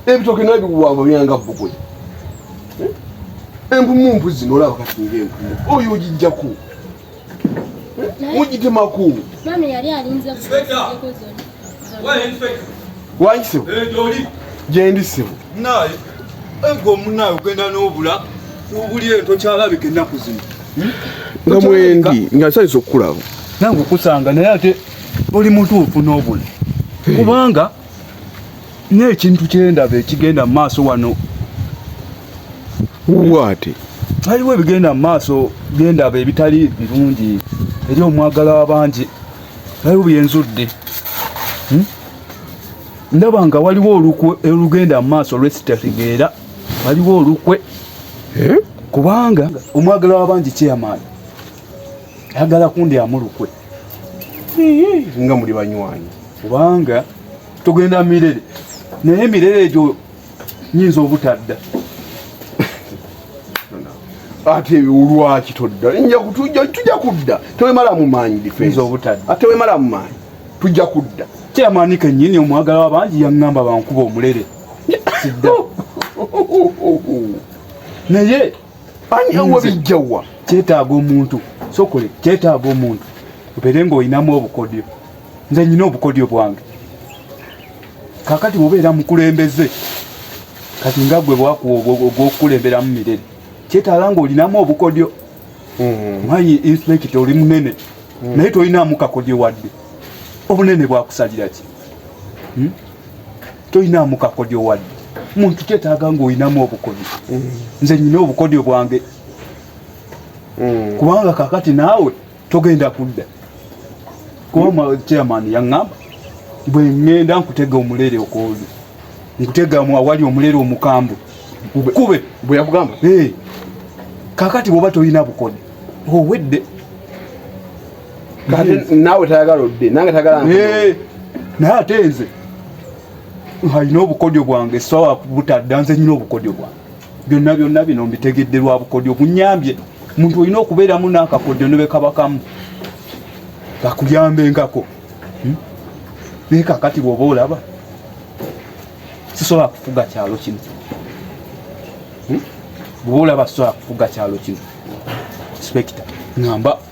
ebitoke naye biwamba byanga bbugoye empumu mpu zino olaba kati nga empumu oyo ogijjaku mugitemaku waki sebo gyendi sebo naye ego omunaye ogenda n'obula obuli eyo tokyalabika ennaku zino hmm? nga mwendi nga nsanyisa okukulaba nange okusanga naye ate oli mutuufu n'obula kubanga n'ekintu kyendaba ekigenda mu maaso wano waate waliwo ebigenda mu maaso byendaba ebitali birungi eri omwagala wabangi waliwo byenzudde hmm? ndaba nga waliwo olukwe olugenda mu maaso lwesitategeera waliwo olukwe eh? kubanga omwagala wabangi kyeyamaani ayagala kundi amulukwe nga muli banywanyi kubanga tugenda mirere naye emirere egyo nyinza obutadda ate olwaki todda tujja kudda tewemala mumaanyi difense obutadda ate wemala mumaanyi tujja kudda kyamaani kenyini omwagala wabangi yaŋŋamba bankuba omulere sidda naye ani awa bijjawa kyetaaga omuntu sokole kyetaaga omuntu obeere ng'olinamu obukodyo nze nyina obukodyo bwange kakati obeera mukulembeze kati nga gwe bwakuwa ogwokukulemberamu mirere kyetaaga ng'olinamu obukodyo mm-hmm. manyi inspekita oli munene mm-hmm. naye tolinamu kakodyo wadde obunene bwakusalira ki hmm? toyinaamu kakodyo wadde muntu kyetaaga ng'olinamu obukodyo mm. nze nyina obukodyo bwange mm. kubanga kakati naawe togenda kudda kuba chairman yaŋŋamba bwe ŋŋenda nkutega omulere okwoli nkutegamu awali omulere omukambwe kube bwe yakugamba kakati bwoba tolina bukodyo owedde kati naawe tayagala odde nange tayagala eh, naye ate nze alina obukodyo bwange sawa butadda nze nyina obukodyo bwange byonna byonna bino mbitegedde lwa bukodyo bunyambye muntu olina okubeeramu n'akakodyo ne bekabakamu kakuyambenkako hmm? naye kakati bwoba olaba sisobola kufuga kyalo kino hmm? bwoba olaba sisobola kufuga kyalo kino inspekita ngamba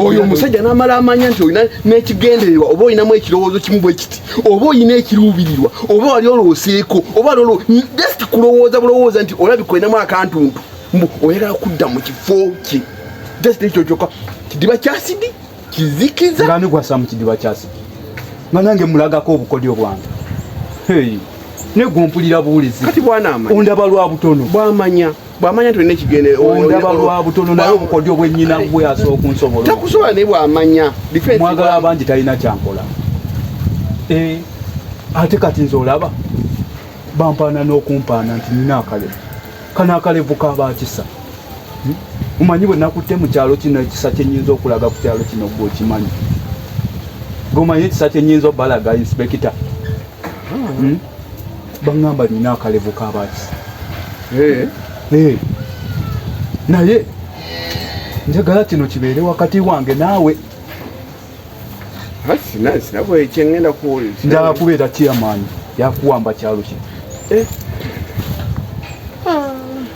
oyo omusajja n'amala amanya nti olina n'ekigendererwa oba olinamu ekirowoozo kimu bwe kiti oba olina ekiruubirirwa oba wali olooseeko oba wali just kulowooza bulowooza nti olabika olinamu akantuntu mbu oyagala kudda mu kifo kye just ekyo kyokka kidiba kyasidi kizikiza ngani gwasa mu kidiba kyasidi nga nange mulagako obukodyo bwange negwompulira buwulizi ondaba lwa butono bwamanya bwamanya tulina ekigenderondaba lwa butono naye obukodyo bwennyina bwe asobola okunsobola takusobola naye bwamanya mwagala abangi talina kyankola eh, ate kati nze olaba bampaana n'okumpaana nti nina akalevu kano akalevu kabakisa hmm? omanyi bwe nakutte mu kyalo kino ekisa kyenyinza okulaga ku kyalo kino gwe okimanyi gwe omanyi ekisa kyenyinza obalaga inspekita hmm? bangamba nina akalevu kabaki eh. eh. naye njagala kino kibeere wakati wange naawe njala kubeera kiyamaanyi yakuwamba kyalo kino eh.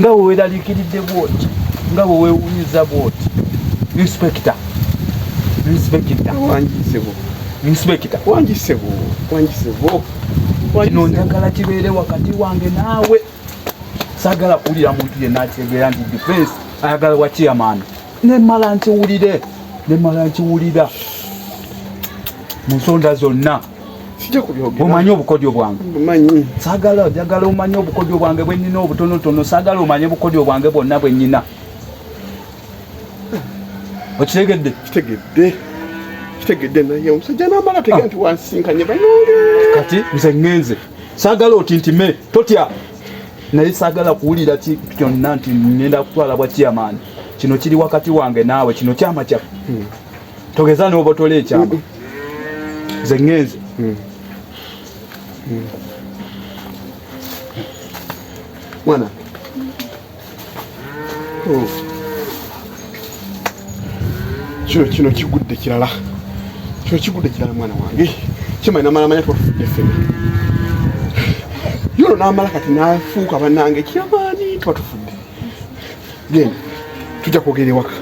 nga bwe weeraliikiridde bwoti nga bwe weewunyizza bwoti inspekita inspekita wangisebo inspekita wangisebo wangisebo kino njagala kibeere wakati wange naawe sagala kuwulira muntu yenna ategeera nti defense ayagala wa chairman nemala nkiwulire nemala nkiwulira mu nsonda zonna omanyi obukodyo bwange sagala njagala omanye obukodyo bwange bwenyina obutonotono sagala omanye obukodyo bwange bwonna bwenyina okitegedde kitegedde kitegedde naye omusajja namala ah. tegera nti wansinkanye banange kati nze ngenze sagala otintime totya naye sagala kuwulira kyonna nti ngenda kutwala bwa chairman kino kiri wakati wange naawe kino kyama kyaffe hmm. togeza nobotola ekyama nze ŋŋenze hmm. hmm. mwana oh. kino kino kigudde kirala kino kigudde kirala mwana wange kimanyi namalamanya twafudde ffena yono namala kati nafuuka banange kyamaani tuba tufudde genda tujja kwogera ewaka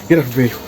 genda tuveeyo